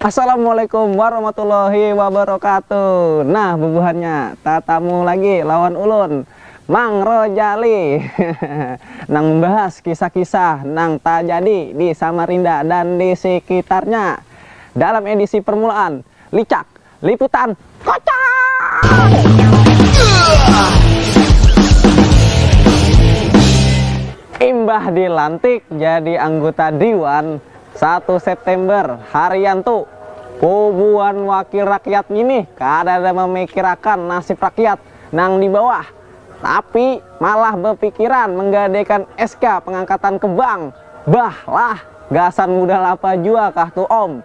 Assalamualaikum warahmatullahi wabarakatuh Nah bubuhannya tatamu lagi lawan ulun Mang Rojali Nang membahas kisah-kisah nang tajadi di Samarinda dan di sekitarnya Dalam edisi permulaan Licak Liputan Kocak! Imbah dilantik jadi angguta diwan satu September, Haryanto, puguan wakil rakyat ngini kadada mamikirakan nasib rakyat nang di bawah, tapi malah bapikiran manggadaikan SK pangangkatan ke bank. Bah lah, gasan mudal apa jua kah tu Om?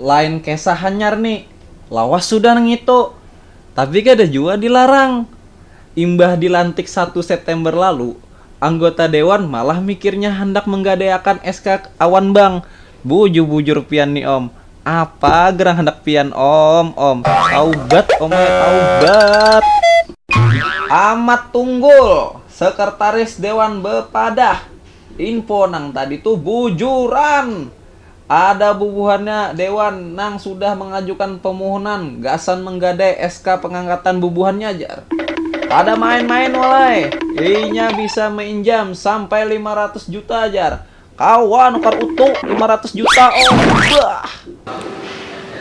Lain kesah hanyar ni, lawas sudah nangitu, tapi kada jua dilarang. Imbah dilantik satu September lalu, anggota dewan malah mikirnya handak menggadaiakan SK awan bank. Bujur-bujur pian ni om, apa gerang handak pian om, om. Taubat om ai, taubat. Amat Tunggul, sekretaris dewan bepadah, info nang tadi tu bujuran. Ada bubuhannya dewan nang sudah mangajukan pamuhunan gasan manggadai SK pangangkatan bubuhannya jar. Kada main-main walai, inya bisa mainjam sampai lima ratus juta jar. Kawa nukar utu lima ratus juta oh, bah.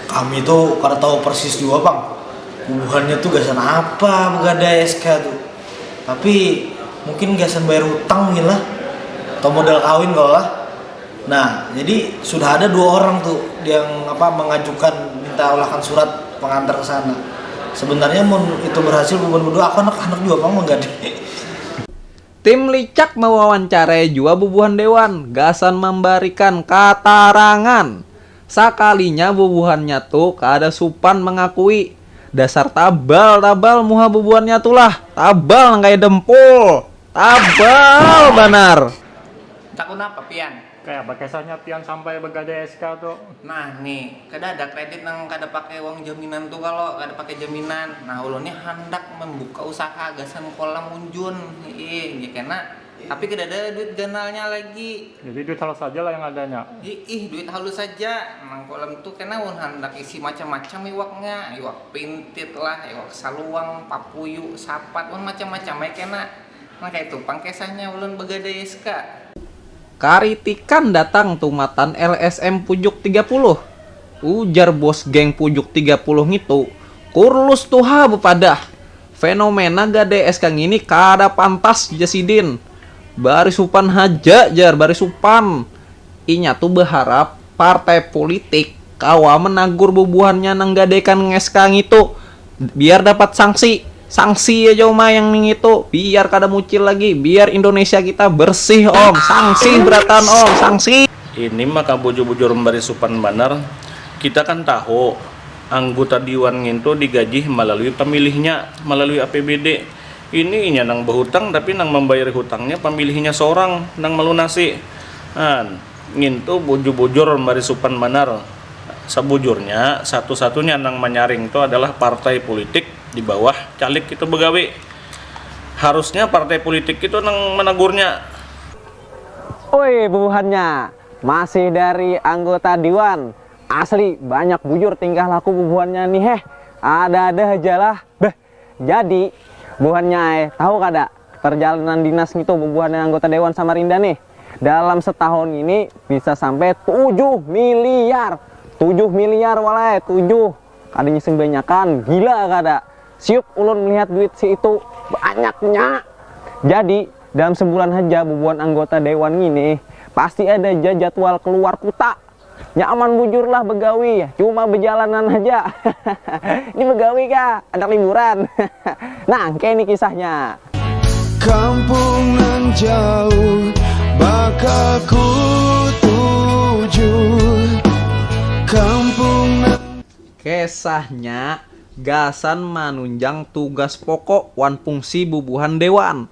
Kami tu kada tahu persis jua pang bubuhannya tu gasan apa bagadai SK tu, tapi mungkin gasan bayar hutang mungkin lah atau modal kawin kawa lah. Nah, jadi sudah ada dua orang tuh yang apa mengajukan minta olahkan surat pengantar ke sana. Sebenarnya mun itu berhasil bubuhan berdua, aku anak-anak jua pang manggadai. Tim licak mewawancarai jua bubuhan dewan gasan mambarikan katarangan. Sakalinya bubuhannya tu kada supan mangakui, dasar tabal tabal muha bubuhannya tu lah, tabal nang kaya dempul, tabal banar. Takut napa pian? Kaya apa kesahnya pian sampai begadai SK tu? Nah ni, kada ada kredit nang kada pakai uang jaminan tu kalo, kada pakai jaminan. Nah ulun ni handak membuka usaha gasan kolam unjun iih ja kena, tapi kada ada duit ganalnya lagi. Jadi duit halus haja lah yang adanya? Iih duit halus haja, nang kolam tu kena ulun handak isi macam-macam iwaknya, iwak pintit lah, iwak saluang, papuyu, sapat, wan macam-macam ai kena. Nah kaitu pang kesahnya ulun begadai SK. Karitikan datang tumatan LSM Pujuk tiga puluh. Ujar bos geng Pujuk tiga puluh ngitu, Kurlus tu ha bepadah, fenomena gadai SK ngini kada pantas ja sidin. Barisupan haja jar, barisupan. Inya tu beharap partai pulitik kawa menagur bubuhannya nang gadaikan SK ngitu. Biar dapat sangsi, sangsi aja uma yang ningitu, biar kada mucil lagi, biar Indonesia kita bersih om, sangsi berataan om, sangsi. Ini maka bujur-bujur membari supan banar, kita kan tahu angguta diwan ngintu digaji malalui pamilihnya, malalui APBD, ini inya nang bahutang tapi nang mambayari hutangnya pamilihnya sorang nang malunasi, an. Ngintu bujur-bujur mari supan banar, sabujurnya satu-satunya nang manyaring tu adalah partai pulitik di bawah caleg itu bagawi. Harusnya partai pulitik itu nang managurnya. Oi bubuhannya masih dari anggota diwan, asli banyak bujur tingkah laku bubuhannya ni heh, ada-ada hajalah beh. Jadi, buhannya ai, tahu kada, parjalanan dinas ngitu bubuhannya anggota dewan Samarinda nih, dalam setahun ngini bisa sampai tujuh miliar! Tujuh miliar wal ai, tujuh! Kada ngising banyakan, gila kada? Siuk ulun melihat duit si itu, banyaknya! Jadi, dalam sebulan haja bubuhan anggota dewan ngini pasti ada ja jadwal keluar kuta. Nyaman bujur lah begawi, cuma bejalanan haja. Ini begawi kah? Handak liburan? Nangke ini kisahnya. Kampung nang jauh bakal ku tuju Kampung nang. Kesahnya gasan manunjang tugas pokok wan fungsi bubuhan dewan.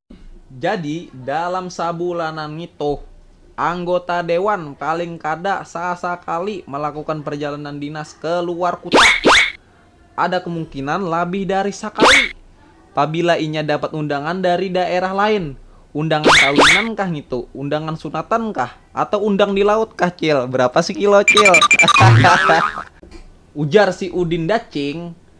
Jadi, dalam sabulanan ngitu, anggota dewan paling kada sasakali malakukan parjalanan dinas ke luar kuta. Ada kemungkinan labih dari sakali, pabila inya dapat undangan dari daerah lain. Undangan kawinan kah ngitu, undangan sunatan kah, atau undang di laut kah, Cil? Berapa sekilo, Cil? Hahaha. Ujar si Udin Dacing,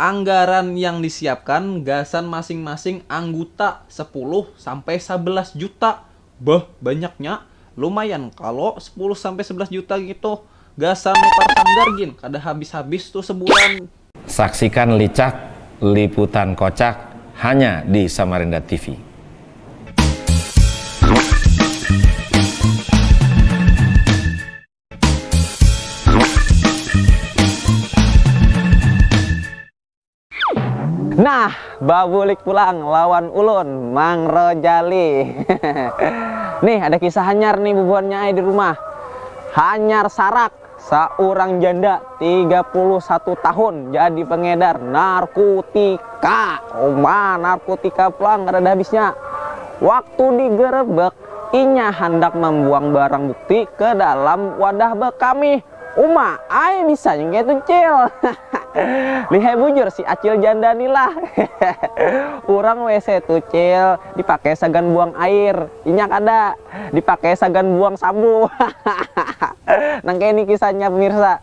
Anggaran yang disiapkan gasan masing-masing angguta sepuluh sampai sabelas juta. Beuh, banyaknya. Lumayan kalo sepuluh sampai sebelas juta ngitu. Gasan nukar sanggar gin kada habis-habis tuh sebulan. Saksikan licak liputan kocak hanya di Samarinda TV. Nah, babulik pulang lawan ulun, Mang Rojali. Hehehe. Nih, ada kisah hanyar nih bubuhannya ai di rumah. Hanyar sarak, saurang janda tiga puluh satu tahun jadi pengedar narkutika. Uma, narkutika pulang kadada habisnya. Waktu digerebek, Inya handak mambuang barang bukti ke dalam wadah bekamih. Uma ai bisanya kayatu cil. Lihai bujur si acil janda ni lah. Urang wc tu cil dipakai sagan buang air, inya kada. Dipakai sagan buang sambu. Nang kaya ni kisahnya pemirsa.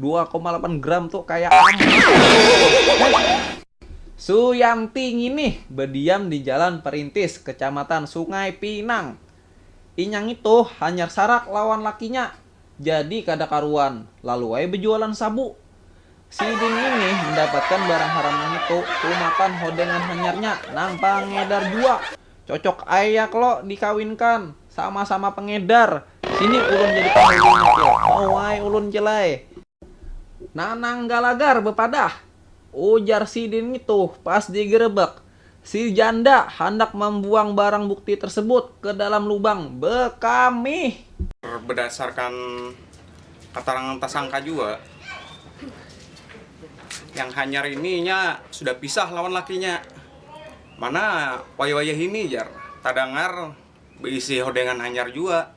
dua koma lapan gram tu kaya amat. Suyanti nginih badiam di Jalan Perintis, Kecamatan Sungai Pinang. Inya ngitu hanyar sarak lawan lakinya, jadi kada karuan, lalu ai bejualan sabu. Sidin nginih mendapatkan barang haram nangitu tumatan hodengan hanyarnya nang pangedar jua. Cocok ai ya klo dikawinkan, sama-sama pengedar, sini ulun jadi panghulunya klo, mau ai ulun cil ai. Nanang Galagar bepadah, ujar sidin ngitu pas digerebek, si janda handak mambuang barang bukti tersebut ke dalam lubang bekamih. Bedasarkan keterangan tersangka jua, yang hanyar ini inya sudah pisah lawan lakinya. Mana wayah-wayah ini jar tadangar beisi hodengan hanyar jua.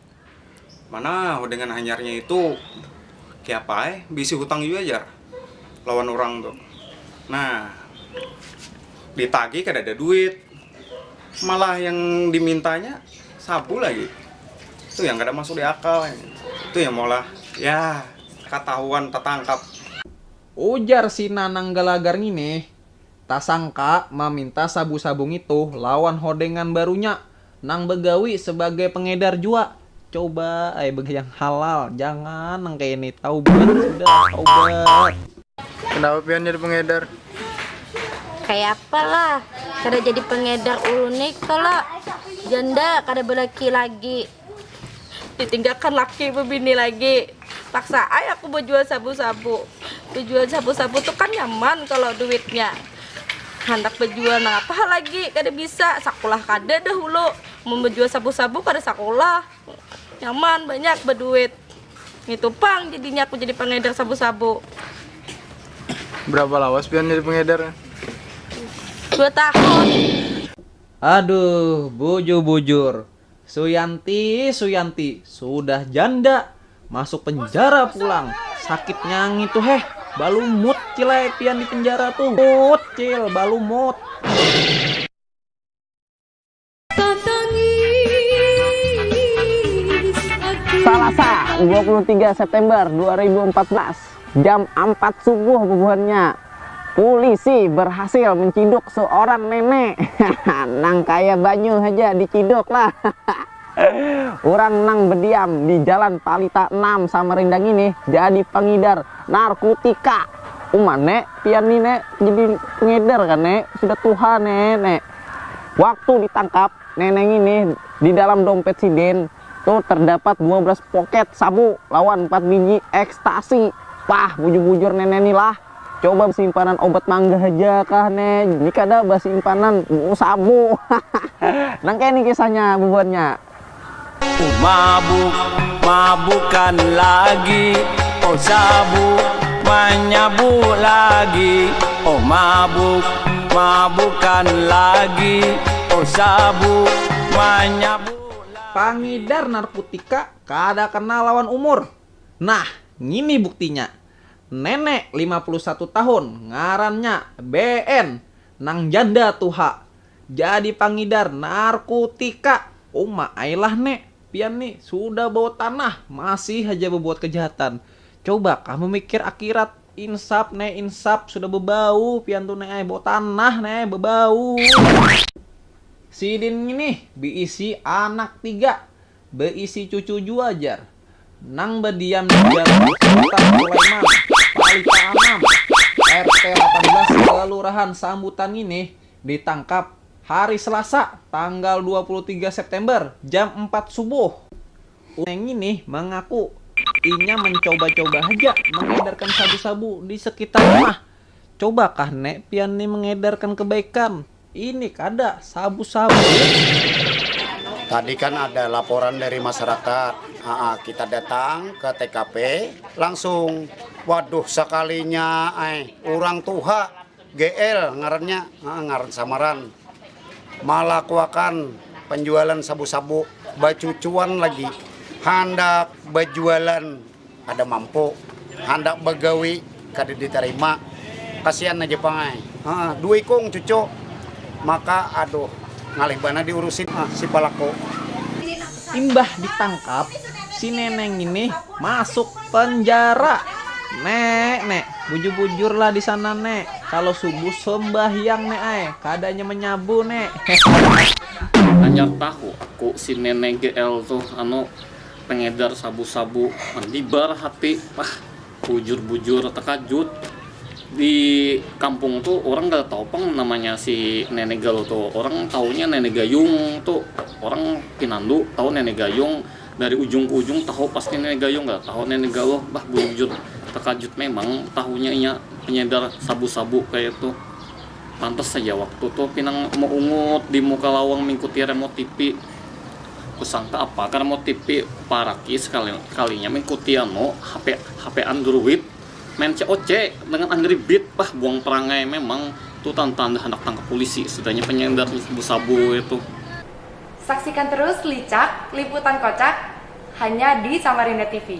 Mana hodengan hanyarnya itu kiapa ai beisi hutang jua jar lawan urang tu. Nah ditagih kadada duit malah yang dimintanya sabu lagi. Tu yang kada masuk diakal. Tu yang maulah yah katahuan tatangkap. Ujar si Nanang Galagar ngini, tasangka maminta sabu-sabu ngitu lawan hodengan barunya nang bagawi sabagai pengedar jua. Coba ai bagi yang halal, jangan nang kaya ini. Taubat sudah, taubat. Kenapa pian jadi pengedar? Kayapa lah, kada jadi pengedar ulun ni kalo janda kada balaki lagi. ditinggalkan laki bebini lagi paksa ay aku berjual sabu-sabu berjual sabu-sabu tuh kan nyaman kalau duitnya handak berjual nah apa lagi kada bisa sekolah kada dahulu mau berjual sabu-sabu kada sekolah nyaman banyak berduit itu pang jadinya aku jadi pengedar sabu-sabu berapa lawas pian jadi pengedar dua tahun aduh bujur-bujur Suyanti Suyanti sudah janda masuk penjara pulang sakitnya ngitu heh balumut cil ai pian di penjara tuh mut cil balumut. Salasa dua puluh tiga September dua ribu empat belas. Jam ampat subuh bubuhannya, pulisi berhasil menciduk seorang nenek nang kaya banyu haja diciduk lah. Urang nang bediam di Jalan Palita enam Samarinda ngini jadi pangidar narkutika. Uma ne, pian ni ne jadi pengedar kan ne, sudah tuha ne ne. Waktu ditangkap, Nenek ngini, di dalam dompet sidin tu terdapat dua belas poket sabu lawan empat biji ekstasi. Pah, bujur-bujur nenek ni lah, coba basimpanan obat mangga haja kah ne ni kada basimpanan sabu. Nang kaya ni kisahnya bubuhannya. Oh mabuk, mabukan lagi Oh sabuk, manyabuk lagi Oh mabuk, mabukan lagi Oh sabuk, manyabuk lagi Pangidar narkutika kada kenal lawan umur. Nah, ngini buktinya. Nenek lima puluh satu tahun, ngarannya BN, nang janda tuha. Jadi pangidar narkutika. Uma ai lah ne, pian ni sudah bawa tanah masih haja babuat kejahatan. Coba kah mamikir akirat. Insap ne insap, sudah babau pian tu ne ai, bawa tanah ne ai, babau. Sidin ngini biisi anak tiga. beisi cucu jua jar nang badiam di jalan Sultan Sulaiman, Pali Kaanam, RT lapan belas Kelurahan Sambutan nginih ditangkap hari Selasa tanggal dua puluh tiga September jam empat subuh. Utusan nginih mengaku inya mencoba-coba haja mengedarkan sabu-sabu di sekitar rumah. Cobakah ne pian ni mengedarkan kebaikan? Ini kada, sabu-sabu. Tadi kan ada laporan dari masyarakat, Aa, kita datang ke TKP, langsung, waduh sakalinya, ay, orang tuha, GL ngarannya, Aa, ngaran samaran, malakuakan penjualan sabu-sabu, bacucuan lagi, handak bajualan. Kada mampu, handak bagawi kada ditarima, kasian aja pang ai. Haa, dua ikung cucu, maka aduh ngalih banar diurusi nah si palaku. Imbah ditangkap, si nenek ngini masuk penjara. Nek, nek, bujur-bujur lah di sana nek, kalo subuh sembahyang nek ai, kada nya menyabu nek, hehehe. Hanyar tahu ku si nenek GL tuh anu. Pengedar sabu-sabu mandibar hati, pah bujur-bujur takajut, di kampung tu orang kada tahu pang namanya si Nenek Galuh tu, orang tahunya Nenek Gayung tu, orang pinandu tahu Nenek Gayung dari ujung ke ujung tahu pasti Nenek Gayung kada tahu Nenek Galuh, bah bujur-bujur takajut memang tahunya inya pengedar sabu-sabu kaya itu. Pantas haja waktu tu pinang meungut di muka lawang mingkuti remote tipi. Kusangka apa ka remote tipi, paraki sekali kalinya mingkuti anu hape hape andruid. Main COC dengan angry beat, bah buang perangai memang tu tantanda handak tangkap pulisi sudahnya penyender sabu sabu itu. Saksikan terus Licak, liputan kocak hanya di Samarinda TV.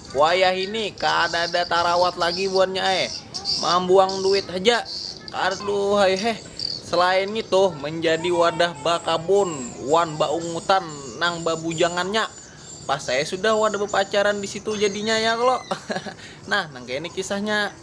Wayah ini kadada tarawat lagi buannya ai, mambuang duit haja. Aduhai heh. Selain ngitu, menjadi wadah bakabun wan baungutan nang babujangannya. Pas saya sudah wadah bepacaran di situ jadinya ya klo. nah, nang kaya ini kisahnya.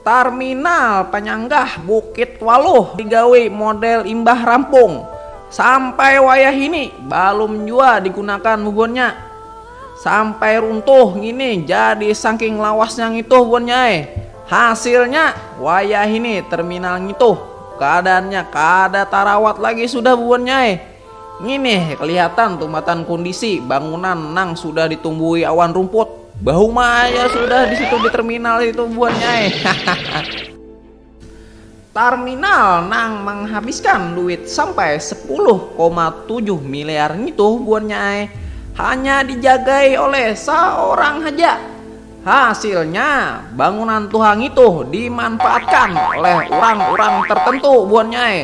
Tarminal panyanggah Bukit Waluh digawi model imbah rampung, sampai wayahini balum jua digunakan bubuhannya. Sampai runtuh ngini jadi saking lawasnya ngitu bubuhannya ai. Hasilnya, wayahini terminal ngitu kaadaannya kada tarawat lagi sudah bubuhannya ai. Ngini kelihatan tumatan kundisi bangunan nang sudah ditumbuhi awan rumput. Bahuma aja sudah di situ di terminal itu bubuhannya ai. Tarminal nang manghabiskan duit sampai sepuluh koma tujuh miliar ngitu buannya ai hanya dijagai oleh saorang haja. Hasilnya, bangunan tuha ngitu dimanfaatkan oleh urang-urang tertentu buannya ai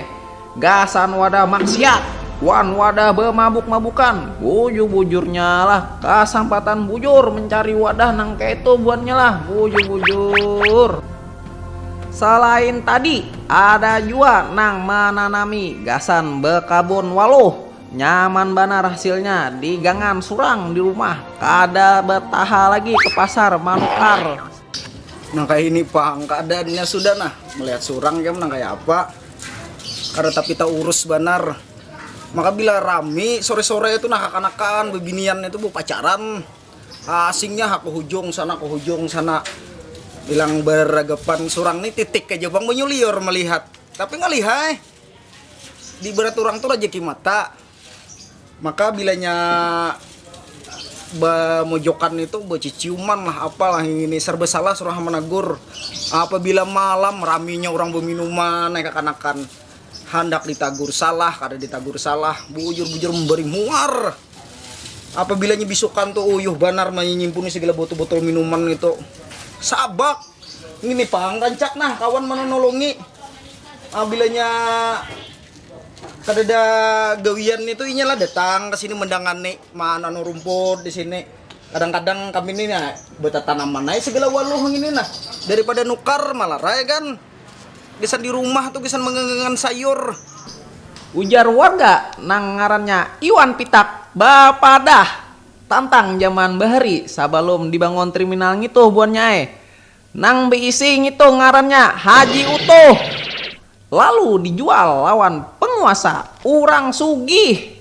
gasan wadah maksiat wan wadah bamabuk-mabukan. Bujur-bujurnya lah, kasampatan bujur mencari wadah nang kaitu buannya lah, bujur-bujur. Salain tadi, ada jua nang mananami gasan bekabun waluh. Nyaman banar hasilnya di gangan surang di rumah, kada betaha lagi ke pasar manukar. Nang kaya ini pang keadaannya sudah nah, melihat surang ikam nang kaya apa, kada tapi taurus banar. Maka bila rami sore-sore itu nah kakanakan bebinian itu bepacaran. Asingnya ha ke hujung sana ke hujung sana bilang beragapan surang ni titik aja bang menyuliur melihat tapi ngalihai di berat urang tu rajaki mata maka bilanya bemojokan itu beciciuman lah apa lah ngini serba salah surang ha managur apabila malam raminya urang beminuman nang kakanakan handak ditagur salah kada ditagur salah bujur bujur memberi muar. Apabila nya bisukan tu uyuh banar manyimpuni sagala botol-botol minuman itu. Sabak. Ngini pang rancak nah kawan mananolongi. Apabila nya kadada gawian itu inya lah datang ka sini mandangani mananu rumput di sini. Kadang-kadang kami ni nah batatanaman ai sagala waluh ngini nah daripada nukar malarai kan. Gasan di rumah tu gasan mangangangan sayur. Ujar warga nang ngarannya Iwan Pitak bapadah tantang jaman bahari sabalum dibangun triminal ngituh buannya ai. Nang beisi ngitu ngarannya Haji Utuh. Lalu dijual lawan penguasa urang sugih.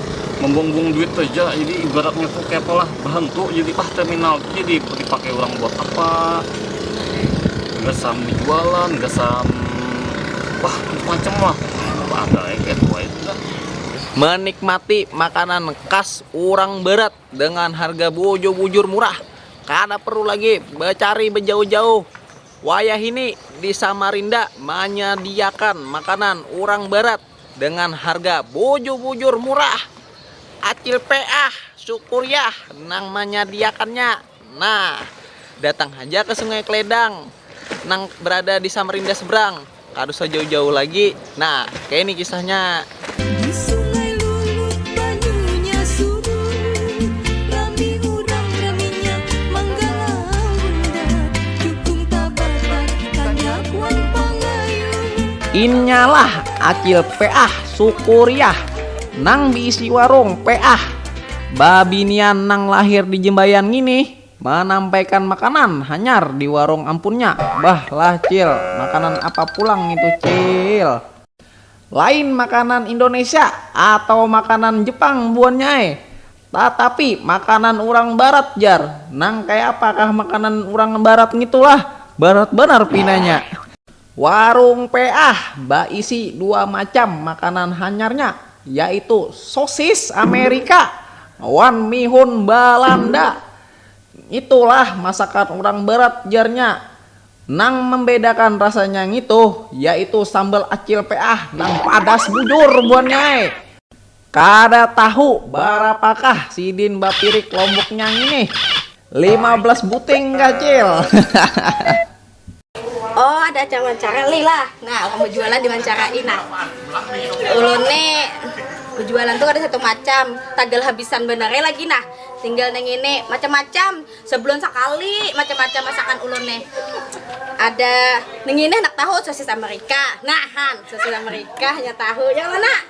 membuang-buang duit saja jadi ibaratnya tuh kayak pola berhentu jadi ah terminal tuh jadi dipakai orang buat apa nggak sam jualan nggak sam wah macam lah ada ya kayak tua itu kan menikmati makanan khas orang barat dengan harga bujur-bujur murah kada perlu lagi becari bejauh-jauh wayah ini di Samarinda manyadiakan makanan orang barat dengan harga bujur-bujur murah acil peah syukuriah nang manyadiakannya nah datang haja ke sungai kledang nang berada di samarinda seberang kada usah jauh-jauh lagi nah kaya ini kisahnya. Inyalah acil peah sukuriah nang biisi warung peah babinian nang lahir di jembayan ngini manampaikan makanan hanyar di warung ampunnya bah lah cil makanan apa pulang ngitu cil lain makanan indonesia atau makanan jepang buannya ai Tatapi, makanan urang barat jar. Nang kayapa kah makanan urang barat ngitu lah? Barat banar pinanya. Warung Peah baisi dua macam makanan hanyarnya, yaitu sosis Amerika wan mihun Balanda. Ngitu lah masakan urang barat jarnya. Nang mambedakan rasanya ngitu, yaitu sambal Acil Peah nang padas bujur buhannya ai. Kada tahu barapakah sidin bapirik lomboknya ngini? Lima belas buting kah cil? Oh ada acara wawancara lih lah, nah orang bejualan diwancarain nah ulun ni bejualan tu kada satu macam tagal habisan banar ai lagi nah tinggal nang ini macam-macam sebulan sakali macam-macam masakan ulun nih ada nang ini handak tahu sosis amerika nah han sosis amerika hanya tahu yang mana.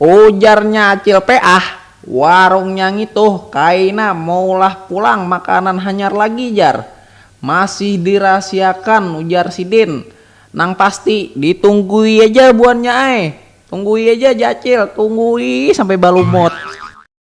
Ujarnya Acil Peah, warungnya ngitu kaina maulah pulang makanan hanyar lagi jar. Masih dirahasiakan ujar sidin. Nang pasti, ditunggui aja buhannya ai. Tunggui aja Jar Acil, tunggui sampai balumut.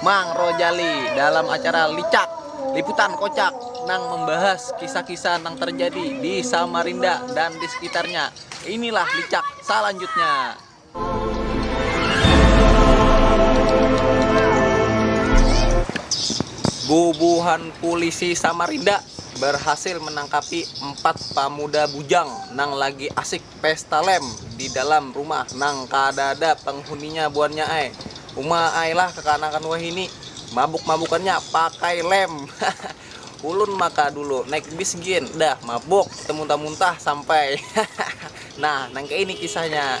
Mang Rojali dalam acara Licak, Liputan Kocak nang membahas kisah-kisah nang terjadi di Samarinda dan di sekitarnya. Inilah Licak salanjutnya. Bubuhan pulisi Samarinda barhasil menangkapi empat pamuda bujang nang lagi asik pesta lem di dalam rumah nang kadada penghuninya buannya ai. Uma ai lah kekanakan wahini, mabuk-mabukannya pakai lem. Hahaha. Ulun maka dulu naik bis gin dah mabuk temuntah-muntah sampai. Hahaha. Nah, nang kaya ini kisahnya.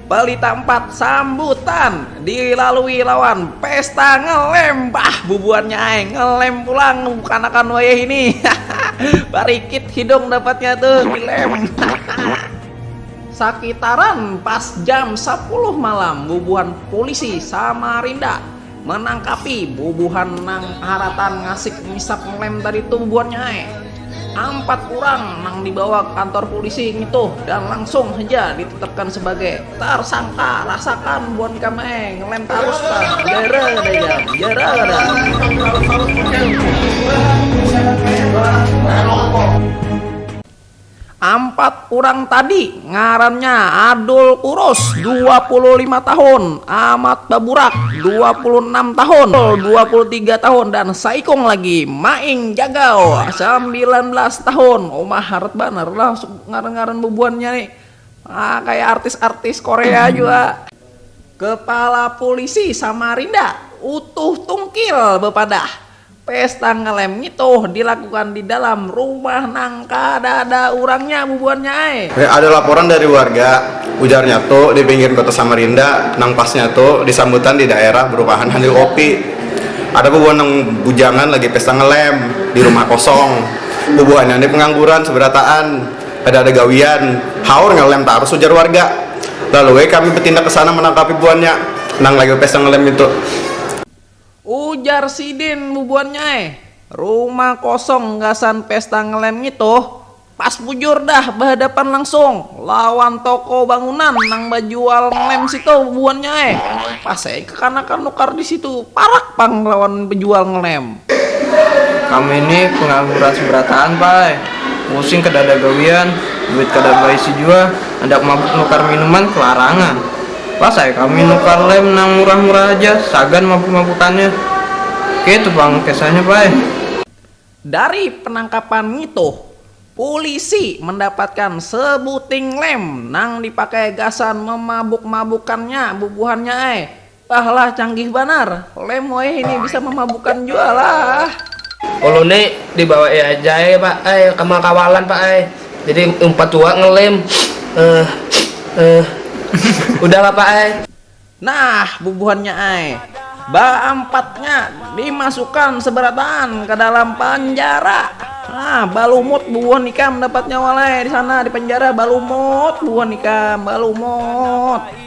Bali tampat sambutan dilalui lawan pesta ngelem bah bubuhannya ay ngelem pulang kanakan wayah ini barikit hidung dapatnya tuh dilem sakitaran pas jam 10 malam bubuhan polisi Samarinda Manangkapi bubuhan nang haratan ngasik ngisap ngelem tadi tuh bubuhannya hai. Ampat urang nang dibawa ke kantor pulisi ngitu dan langsung haja ditetapkan sebagai tarsangka rasakan buhan ikam hai ngelem tarus pang jara kada ikam jara kada. Ampat urang tadi ngarannya Adul Kurus, dua puluh lima tahun, Amat Baburak, dua puluh enam tahun, Ul, dua puluh tiga tahun, dan saikung lagi, Maing Jagau, sambilan belas tahun. Uma harat banar lah ngaran-ngaran bubuhannya ni. Ah, kaya artis-artis Korea jua. Kepala Pulisi Samarinda, Utuh Tungkil bapadah, Pesta ngelem ngitu dilakukan di dalam rumah nang kadada urangnya bubuhannya ai. Ada laporan dari warga, ujarnya tu di pinggir kota Samarinda nang pasnya tu di sambutan di daerah berumahan sambil kopi. Ada bubuhan nang bujangan lagi pesta ngelem di rumah kosong. Bubuhannya ni pengangguran seberataan, kada ada gawian, haur ngelem tarus ujar warga. Lalu ai kami betindak kesana menangkapi buhannya nang lagi bepesta ngelem itu. Ujar sidin bubuhannya ai, rumah kosong gasan pesta ngelem ngitu pas bujur dah bahadapan langsung lawan toko bangunan nang bajual ngelem situ bubuhannya ai, pas ai kekanakan nukar disitu parak pang lawan bejual ngelem. Kami ni pengangguran seberataan pa ai, pusing kedada gawian, duit kada baisi jua, handak mabuk nukar minuman kelarangan. Pas ai kami nukar lem nang murah-murah haja, sagan mabuk-mabukannya. Keitu pang kesahnya Pai. Dari penangkapan ngitu, pulisi mandapatkan sebuting lem nang dipakai gasan memabuk-mabukannya bubuhannya ai. Bah lah canggih banar, lem wayahini bisa mamabukan jua lah. Ulun ni dibawai haja ai Pak ai, ka makawalan Pak ai. jadi empat tua ngelem eh eh udah lah pak ai. Nah bubuhannya ai, baampatnya dimasukan seberataan ka dalam panjara. Nah balumut bubuhan ikam dapatnya walai disana di panjara balumut bubuhan ikam balumut.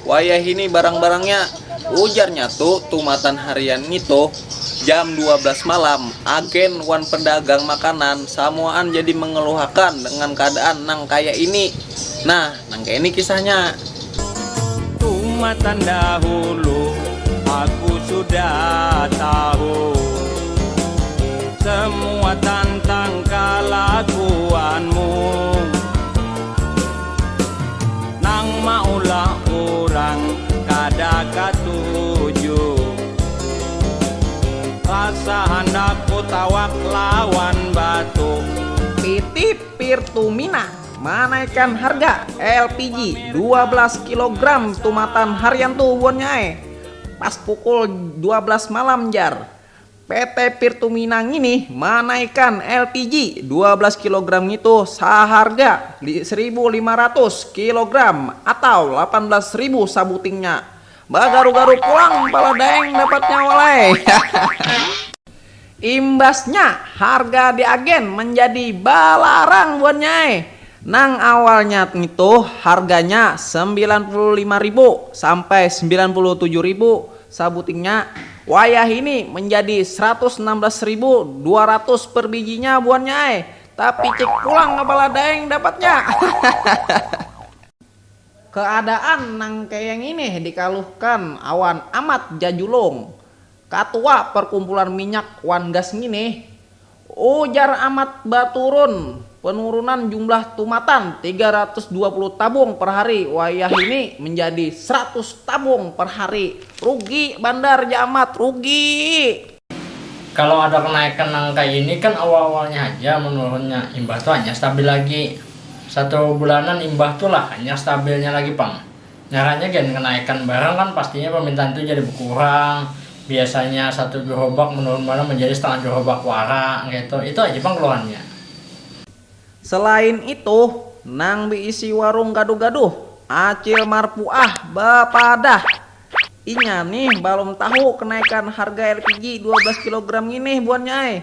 Wayahini barang-barangnya, ujarnya tu tumatan harian ngitu, jam dua belas malam, agen wan pedagang makanan samuaan jadi mengeluhakan dengan keadaan nang kaya ini. Nah, nang kaya ini kisahnya. Tumatan dahulu aku sudah tahu semua tantang kalakuanmu. Nang maulah urang kada katuju Rasa handak kutawak lawan batu. PT Pirtumina manaikan harga LPG dua belas kilogram tumatan harian tu buannya ai, pas pukul dua belas malam jar. PT Pirtumina ngini manaikan LPG dua belas kilogram ngitu saharga saribu lima ratus kilogram atau lapan belas ribu sabutingnya. Bagaru-garu pulang pala Daeng dapatnya walai. Imbasnya harga di agen manjadi balarang buannya ai. Nang awalnya ngitu harganya sembilan puluh lima ribu sampai sembilan puluh tujuh ribu Sabutingnya, wayah ini manjadi saratus anam balas ribu dua ratus per bijinya buhannya ai, tapi cik pulang kepala daeng dapatnya. Keadaan nang kaya ngini dikaluhkan awan Amat Jajulung, Katua Perkumpulan Minyak wan Gas ngini, Ujar Amat baturun, penurunan jumlah tumatan tiga ratus dua puluh tabung per hari wayahini menjadi seratus tabung per hari. Rugi bandar ja Amat, rugi! Kalau ada kenaikan nang kaya ini kan awal-awalnya haja menurunnya, imbah tu hanyar stabil lagi. Satu bulanan imbah tu lah hanyar stabilnya lagi pang. Ngarannya gen kenaikan barang kan pastinya permintaan tu jadi bekurang, biasanya satu gerobak menurun banar menjadi setengah gerobak wara kaitu, itu aja pang keluhannya. Selain itu, nang beisi warung gaduh-gaduh, Acil Marpuah, bepadah, inya nih balum tahu kenaikan harga lpg dua belas kilogram nginih buhannya ai,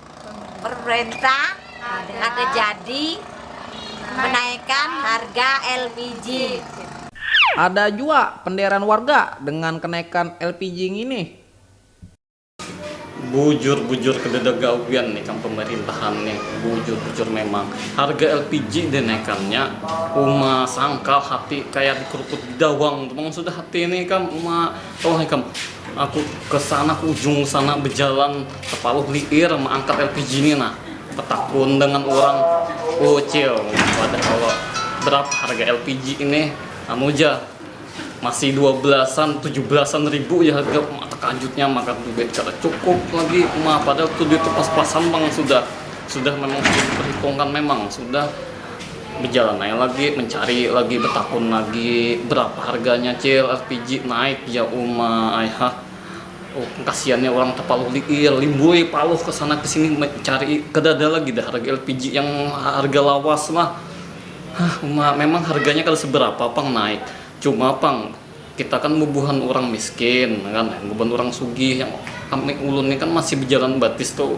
Ada jua penderan warga dengan kenaikan lpg nginih. Bujur-bujur kededa gawian ikam pemerintahan nih, bujur-bujur memang. Harga lpg dinaikannya uma sangkal hati kaya dikerukut bidawang tu pang sudah hati nih ikam, uma. Tolong ikam, aku ke sana ke ujung sana bejalan tepaluh liir meangkat lpg ni nah, tetakun dengan urang, Ucil wadah kalo berapa harga lpg ini, anu ja masih dua belasan tujuh belasan ribu ja harga, uma tekajutnya makan duit kada cukup lagi uma, padahal tu duit tu pas-pasan pang sudah, sudah memang sudah diperhitungkan memang sudah. bejalan aja lagi mencari lagi betakun lagi berapa harganya cil LPG naik ya uma ayah oh, kasihannya orang terpaluh liir limboy paluh ke sana ke sini mencari kada ada lagi dah harga LPG yang harga lawas lah Hah, uma memang harganya kada seberapa pang naik cuma pang Kita kan bubuhan urang miskin kan, bubuhan urang sugih yang kami ulun ni kan masih bejalan batis tuh.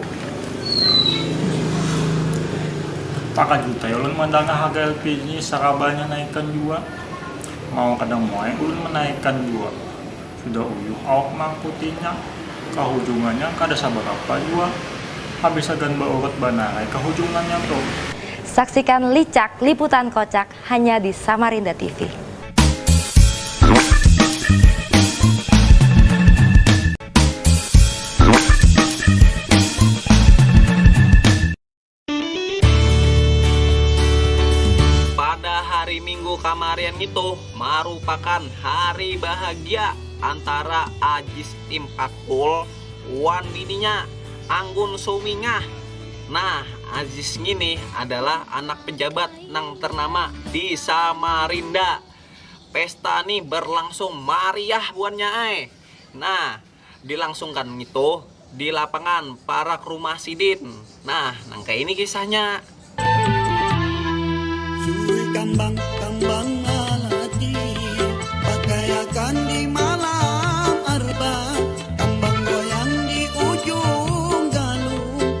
Takajut ai ulun mandangah harga LPG ni sarabanya naikan jua. Mau kada mau ai ulun manaikan jua. Sudah uyuh awak maangkutinya, kahujungannya kada sabarapa jua. Habis hagan baurut banar ai kahujungannya tuh. Saksikan licak liputan kocak Hanya di Samarinda TV. Pada hari Minggu kamarian ngitu marupakan hari bahagia antara Ajis Impactful wan bininya, Anggun Sumingah. Nah, Ajis ngini adalah anak pejabat nang ternama di Samarinda. Pesta ni berlangsung mariah buannya ai. Nah, dilangsungkan ngitu di lapangan parak rumah sidin. Nah, nang kaya ini kisahnya. Cuy kambang kambang lalaki pakaiakan di malam arba kambang goyang di ujung galung.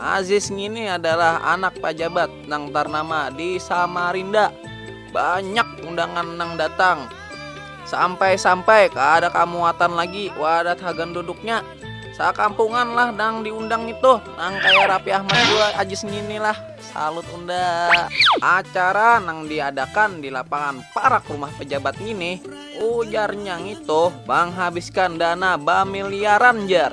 Aziz ngini adalah anak pajabat nang tarnama di Samarinda. Banyak undangan nang datang. Sampai-sampai kada kamuatan lagi wadah hagan duduknya. Sakampungan lah nang diundang ngitu. Nang kaya Rapi Ahmad jua Aziz ngini lah. Salut unda. Acara nang diadakan di lapangan parak rumah pejabat ngini, ujarnya ngitu manghabiskan dana bamiliaran jar.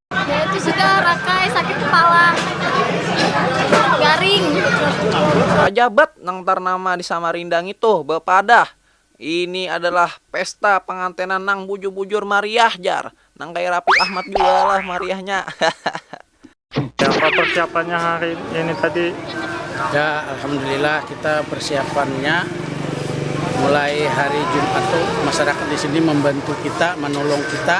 Pajabat nang tarnama di Samarinda ngitu bapadah, Ini adalah pesta pangantenan nang bujur-bujur mariah jar. Nang kaya Raffi Ahmad jua lah mariahnya. Kayapa persiapannya hari ini tadi? Ya, alhamdulillah kita persiapannya mulai hari Jumat tu masyarakat di sini membantu kita, menolong kita.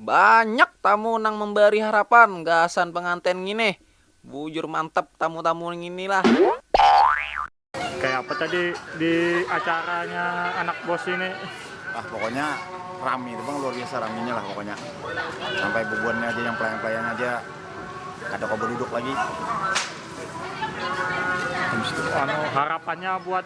Banyak tamu nang membari harapan gasan pengantin ngini. Bujur mantap tamu-tamu ngini lah. Kaya apa tadi di acaranya anak bos ini. Wah pokoknya rami tu pang luar biasa raminya lah pokoknya sampai bubuhannya aja yang pelayan-pelayan aja kada kawa baduduk lagi. Anu harapannya buat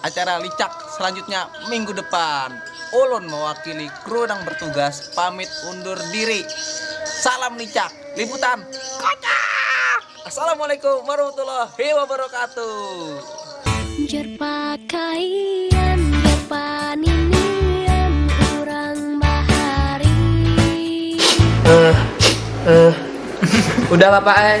Acara licak selanjutnya minggu depan. Ulun mewakili kru nang bertugas pamit undur diri. Salam licak, liputan kocak! Assalamualaikum warahmatullahi wabarakatuh. Jar pakaian, jar paninian urang bahari. Eh eh udah bapak ai.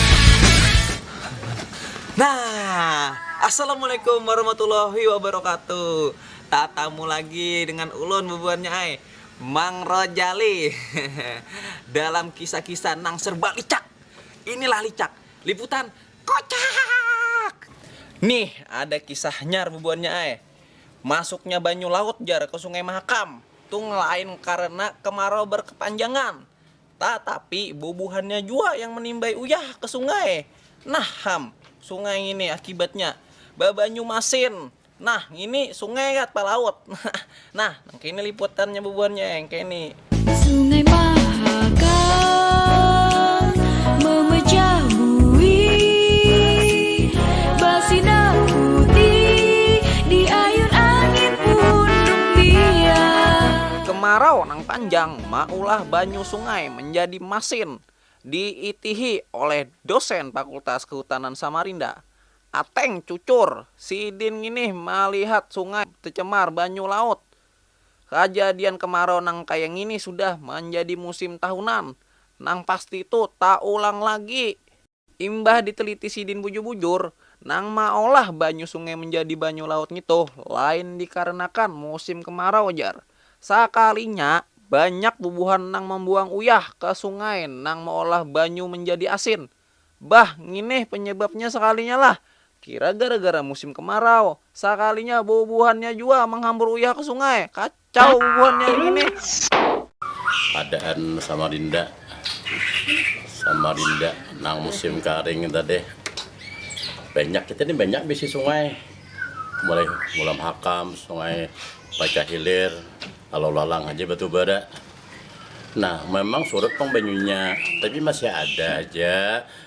Nah, Assalamualaikum warahmatullahi wabarakatuh. Tatamu lagi dengan ulun bubuhannya ai, Mang Rojali. Dalam kisah-kisah nang serba licak. Inilah licak, liputan kocak. Nih ada kisahnya bubuhannya ai. Masuknya banyu laut jar ke Sungai Mahakam, tung lain karena kemarau berkepanjangan. Tatapi, bubuhannya jua yang menimbai uyah ke sungai. Nah, ham, sungai ngini akibatnya babanyu masin. Nah, ngini sungai gat palaut. Nah, nangkini liputannya bubuhannya yang kini. Sungai Mahaka memecah buih basinar putih diayun angin pun rumbiah. Kemarau nang panjang. maulah banyu sungai menjadi masin diitihi oleh dosen Fakultas Kehutanan Samarinda. Ateng cucur, sidin nginih malihat sungai tecemar banyu laut. Kajadian kemarau nang kaya ngini sudah manjadi musim tahunan, nang pasti tu taulang lagi. Imbah diteliti sidin bujur-bujur, nang maolah banyu sungai menjadi banyu laut ngitu lain dikarenakan musim kemarau jar. Sakalinya, banyak bubuhan nang membuang uyah ke sungai nang meolah banyu menjadi asin. Bah, nginih penyebabnya sakalinya lah. Kira gara-gara musim kemarau, sakalinya bubuhannya jua menghambur uyah ke sungai, kah? Kacau bubuhan nya ngini. Adaan Samarinda, Samarinda nang musim karing tadi banyak kita ni banyak bisi sungai mulai Mulam Hakam, Sungai Pacah Hilir, Alau Lalang haja batubara. Nah, memang surut pang banyunya, tapi masih ada haja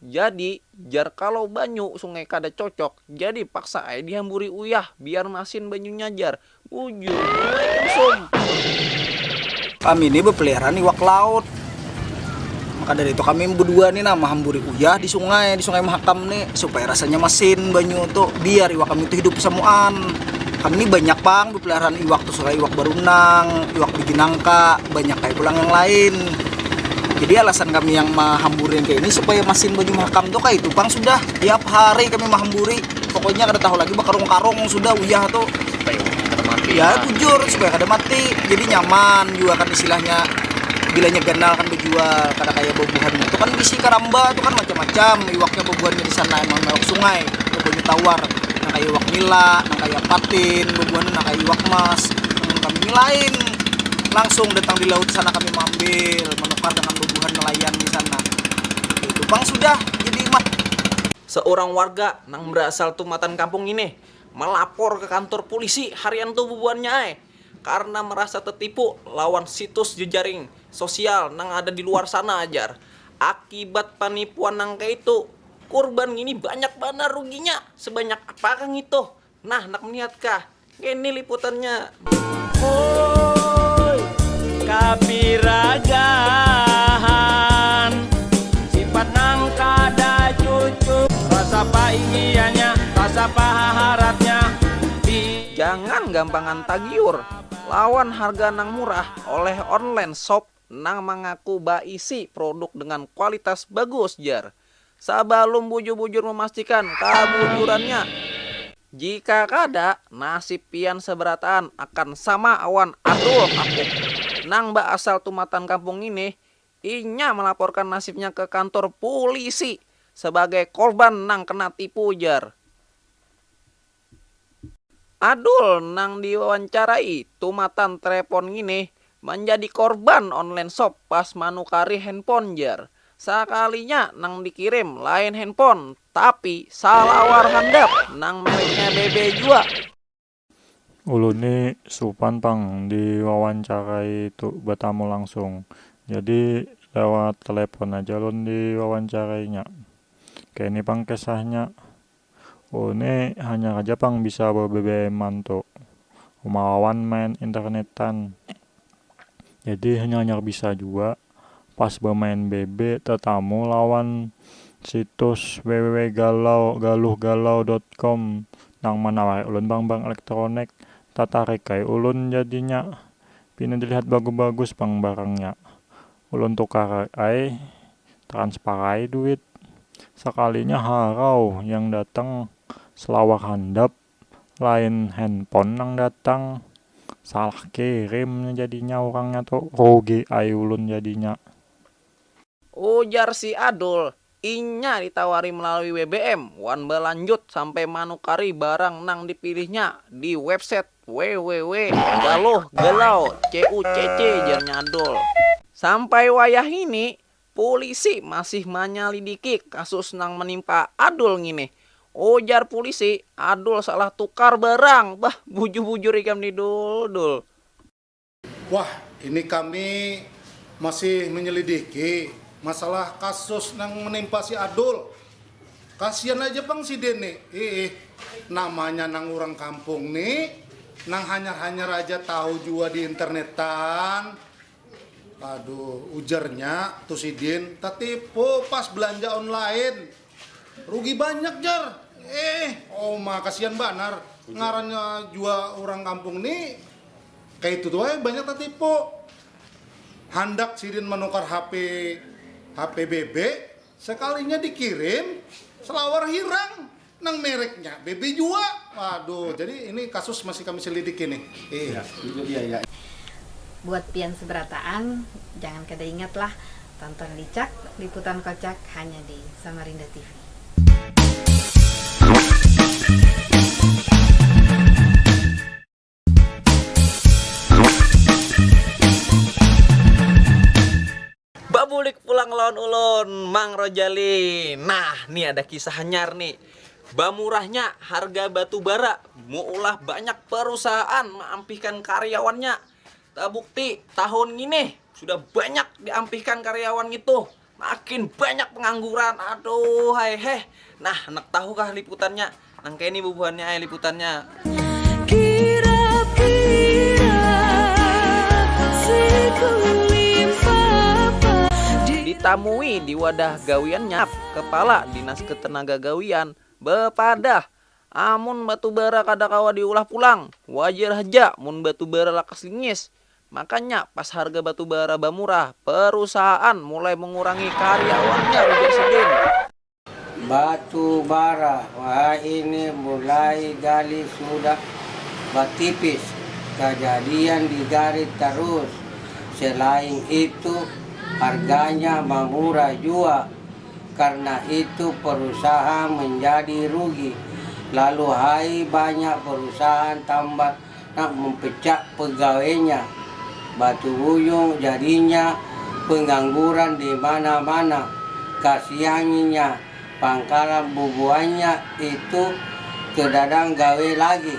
Jadi, jar kalau banyu sungai kada cocok, jadi paksa ai dihamburi uyah, biar masin banyunya jar. Bujur jua ikam Sum. Kami ni bepeliharaan iwak laut, maka dari itu kami bedua ni nah mahamburi uyah di sungai, di sungai mahakam ni supaya rasanya masin banyu tu, biar iwak kami tu hidup samuaan. Kami ni banyak pang bepeliharaan iwak. Sudah iwak barunang, iwak biji nangka, banyak ai pulang yang lain. Jadi alasan kami yang mahamburi yang kaya ini supaya masin banyu mahakam tu kaya itu pang sudah, tiap hari kami mahamburi pokoknya kada tahu lagi bakarung-karung sudah uyah tu. Supaya iwak kada mati. Ya bujur supaya kada mati jadi nyaman jua kan istilahnya bila nya ganal kan bajual kada kaya bubuhan nya tu kan bisi karamba tu kan macam-macam iwaknya bubuhannya di sana emang iwak sungai atau banyu tawar nang kaya iwak nila nang kaya. patin bebuhan nang kaya iwak mas nang kami ni lain langsung datang di laut sana kami mambil menukar dengan bebuhan nelayan di sana itu pang sudah jadi mah seurang warga nang berasal tumatan kampung ini melapor ke kantor pulisi harian tu bebuhannya ai karena merasa tertipu lawan situs jejaring sosial nang ada di luar sana jar akibat penipuan nang kaya itu Kurban ngini banyak banar ruginya, sebanyak apakah ngitu? Nah, handak melihatkah? Ngini liputannya. Hooy kapiragahan Sifat nang kada cucuk Rasa apa ingiannya Rasa apa haharatnya Di. Jangan gampangan tagiur lawan harga nang murah oleh online shop nang mangaku baisi produk dengan kualitas bagus, jar Sabalum bujur-bujur memastikan kabujurannya. Jika kada, nasib pian sabarataan akan sama wan Adul Hakuk, nang baasal tumatan kampung ngini, inya malaporkan nasibnya ke kantor pulisi sabagai korban nang kena tipu, jar. Adul nang diwawancarai tumatan trepon ngini manjadi korban online shop pas manukari handphone jar. Sakalinya nang dikirim lain handphone tapi salawar handap nang mereknya BB jua. Ulun ni supan pang diwawancarai tu batamu langsung, jadi lewat telepon aja ulun diwawancarainya. Kayani pang kesahnya, Oh ne hanyar haja pang bisa be bbm an tu uma wawan main internetan jadi hanyar hanyar bisa jua pas bemain bb tetamu lawan situs www galau galuh galau dot com nang manawari ulun barang barang elektronik tatarik ai ulun jadinya pina dilihat bagus bagus pang barangnya Ulun tukar ai, transfar ai duit, sakalinya harau yang datang selawar handap, lain handphone nang datang, salah kirim nya jadinya urangnya tu, rugi ai ulun jadinya. Ujar si Adul, Inya ditawari melalui bbm wan balanjut sampai manukari barang nang dipilihnya di website www galuh galau cucc jarnya Adul. Sampai wayahini, pulisi masih manyalidiki kasus nang menimpa Adul ngini. Ujar pulisi, Adul salah tukar barang. Bah, bujur-bujur ikam ni Dul, Dul. Wah, ini kami masih menyelidiki masalah kasus nang menimpa si Adul. Kasian aja pang sidin ni, iih, namanya nang urang kampung ni, nang hanyar-hanyar aja tahu jua di internetan. Aduh, ujarnya tu sidin tetipu pas belanja online. Rugi banyak jar, eh oma kasian banar ngarannya jua urang kampung ni kaya itu tu ai banyak tatipu. Handak sidin manukar HP HP BB sekalinya dikirim selawar hirang nang mereknya BB jua. Waduh jadi ini kasus masih kami selidiki nih. Hehe. Buat pian seberataan, jangan kada ingat lah Tonton Licak, liputan kocak hanya di Samarinda TV. Babulik pulang lawan ulun Mang Rojali Nah ni ada kisah hanyar ni Bamurahnya harga batu bara Meulah banyak perusahaan Maampihkan karyawannya Tabukti, tahun ngini sudah banyak diampihkan karyawan ngitu, makin banyak pengangguran, aduhai heh. Nah, handak tahu kah liputannya? Nang kaya ni bubuhannya ai liputannya. Ditamui di wadah gawiannya, Kepala Dinas Ketenagagawian bepadah Amun batu bara kada kawa diulah pulang, wajar haja mun batu bara lakas lingis. Makanya pas harga batu bara bamurah, perusahaan mulai mengurangi karyawannya, ujar sidin. Batu bara wahini mulai gali sudah batipis, kajadian di garit tarus. Selain itu, harganya mamurah jua, Karna itu perusahaan menjadi rugi, lalu hai banyak perusahaan tambat nak mempecat pegawainya, batu ujung jadinya pengangguran di mana-mana, kasiannya pangkalan bubuhannya itu kedadang gawe lagi.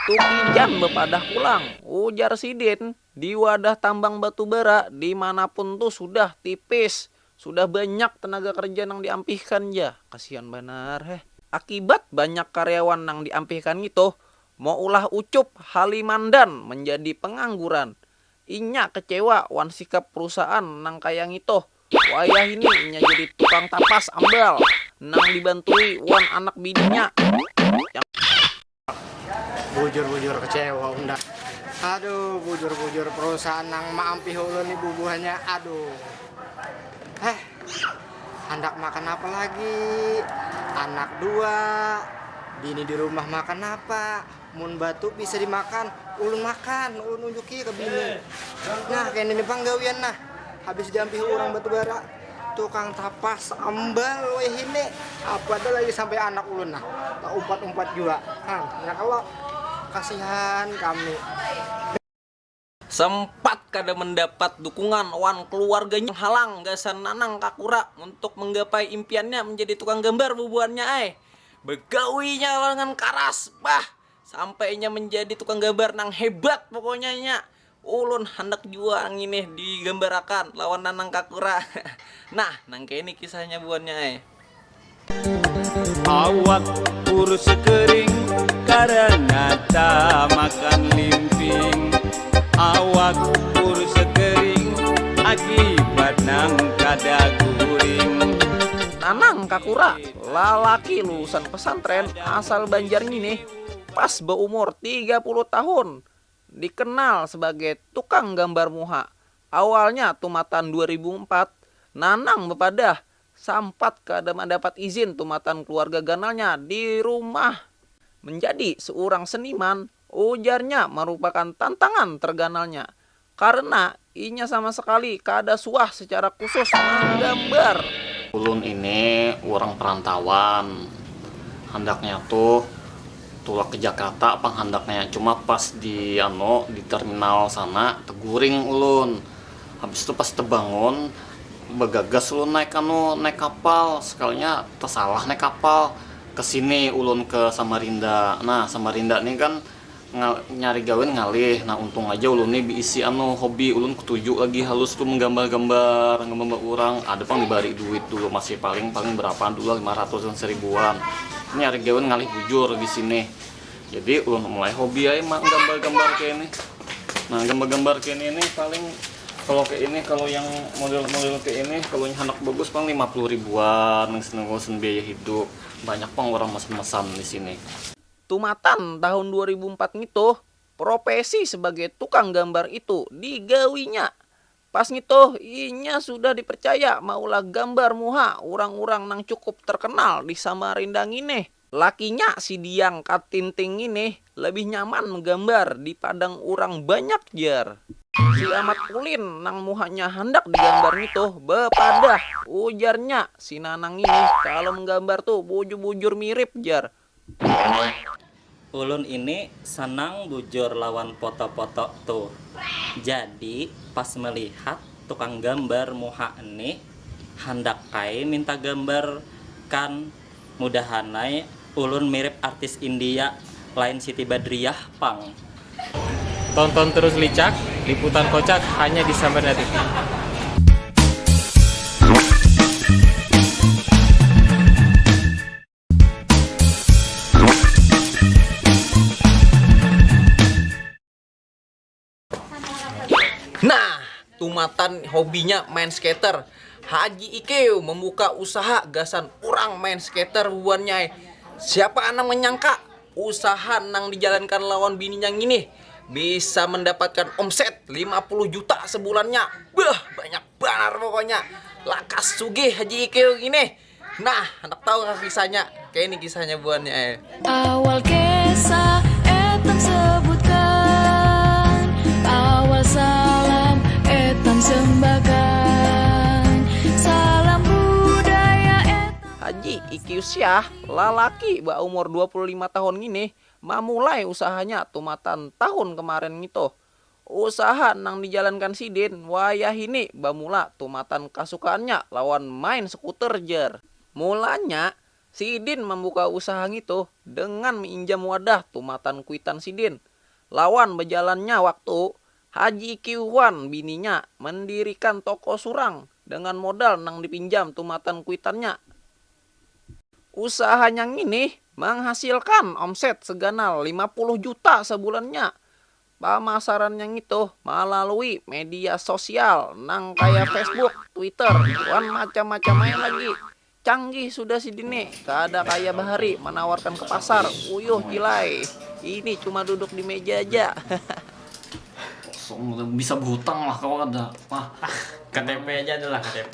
Tukijan bepadah pulang, ujar sidin, di wadah tambang batubara di manapun tu sudah tipis, Sudah banyak tenaga kerja nang diampihkan ja, kasihan banar heh. Akibat banyak karyawan nang diampihkan ngitu, maulah ucup Halimandan menjadi pengangguran. Inya kecewa wan sikap perusahaan nang kaya ngitu. Wayahini inya jadi tukang tapas ambal nang dibantui wan anak bininya yang. Bujur-bujur kecewa unda. Aduh bujur-bujur perusahaan nang maampih ulun ni bubuhannya aduh. Heh handak makan napa lagi anak dua bini di rumah makan napa mun batu bisa dimakan ulun makan ulun unjuki ke bini. Nah kene ni pang gawian nah habis diampihi urang batubara. Tukang tapas ambal wahini apa tu lagi sampai anak ulun nah taumpat umpat jua hang ya kalo kasihan kami. Sempat kada mendapat dukungan wan keluarganya menghalang gasan Nanang Kakura untuk menggapai impiannya menjadi tukang gambar bubuhannya ai. Begawinya lawan karas bah sampai inya menjadi tukang gambar nang hebat pokoknya inya Ulun handak jua nginih digambarakan lawan Nanang Kakura. Nah, nang kayni kisahnya buhannya ai. Awak kurus kering karena tamakan limping Awak kurus kering akibat nang kada guring. Nanang Kakura, lalaki lulusan pesantren asal Banjar nginih, pas baumur tiga puluh tahun, Dikenal sebagai tukang gambar muha, awalnya tumatan dua ribu empat, Nanang bepadah sampat kada mandapat izin tumatan keluarga ganalnya di rumah. Menjadi seurang seniman, ujarnya marupakan tantangan terganalnya karena Inya sama sekali kada suah secara khusus manggambar. Ulun ini urang perantauan, handaknya tuh tulak ke Jakarta pang handaknya, cuma pas di anu di terminal sana teguring ulun, habis tu pas tebangun bagagas ulun naik anu naik kapal, sekalinya tesalah naik kapal, kesini ulun ke Samarinda, nah Samarinda nih kan Nyari gawin ngalih, nah untung aja ulun ni biisi anu hobi, ulun ketuju lagi halus tu menggambar-gambar, gambar urang, ada pang dibari duit dulu masih paling paling berapaan dulu lah lima ratusan seribuan, nyari gawin ngalih bujur di sini, jadi ulun mulai hobi ai menggambar-gambar kaya ini, nah gambar-gambar kaya ini ni paling kalau kaya ini kalau yang model-model kaya ini kalau yang handak bagus paling lima puluh ribuan gasan biaya hidup, banyak pang urang mesan-mesan di sini. Tumatan tahun dua ribu empat ngitu, propesi sebagai tukang gambar itu digawinya. Pas ngitu, inya sudah dipercaya maulah gambar muha urang-urang nang cukup terkenal di Samarinda ngini. Lakinya si Diang Katinting ngini lebih nyaman mgambar di padang urang banyak jar. Si Amat Ulin nang muhanya handak digambar ngitu bepadah, ujarnya, si Nanang ngini kalo mgambar tu bujur-bujur mirip jar. Ulun ini senang bujur lawan foto-foto tu, jadi pas melihat tukang gambar muha ni handak ai minta gambar kan mudahan ai ulun mirip artis india lain siti badriah pang. Tonton terus Licak, liputan kocak hanya di Samarinda TV. Nah, tumatan hobinya main skater, Haji Ikeu membuka usaha gasan urang main skater bubuhannyai. Siapa nang menyangka, usaha nang dijalankan lawan bininya nginih bisa mendapatkan omset lima puluh juta sebulannya. Beuh, banyak banar pokoknya. Lakas sugih Haji Ikeu nginih. Nah, anak tahu kah kisahnya? Kayak ini kisahnya buannya eh. Awal kisah etam sebutkan, awal salam etam sembahkan, salam budaya etam. Haji Iki Usiah, lalaki baumur 25 tahun ngini, mamulai usahanya tumatan tahun kemarin ngitu. Usaha nang dijalankan sidin wayahini bamula tumatan kasukaannya lawan main skuter jar. Mulanya, sidin mambuka usaha ngitu dengan miinjam wadah tumatan kuitan sidin. Lawan bajalannya waktu, Haji Ikiu wan bininya mandirikan toko surang dengan modal nang dipinjam tumatan kuitannya. Usahanya ngini manghasilkan omset seganal lima puluh juta sabulannya. Pamasarannya ngitu malalui media sosial nang kaya Facebook, Twitter, wan macam-macam ai lagi. Canggih sudah sidini, kada kaya bahari manawarkan ke pasar, uyuh Jilai. Ini cuma duduk di meja ja. Bisa berhutang lah kawa kada. Ktp aja ada lah ktp.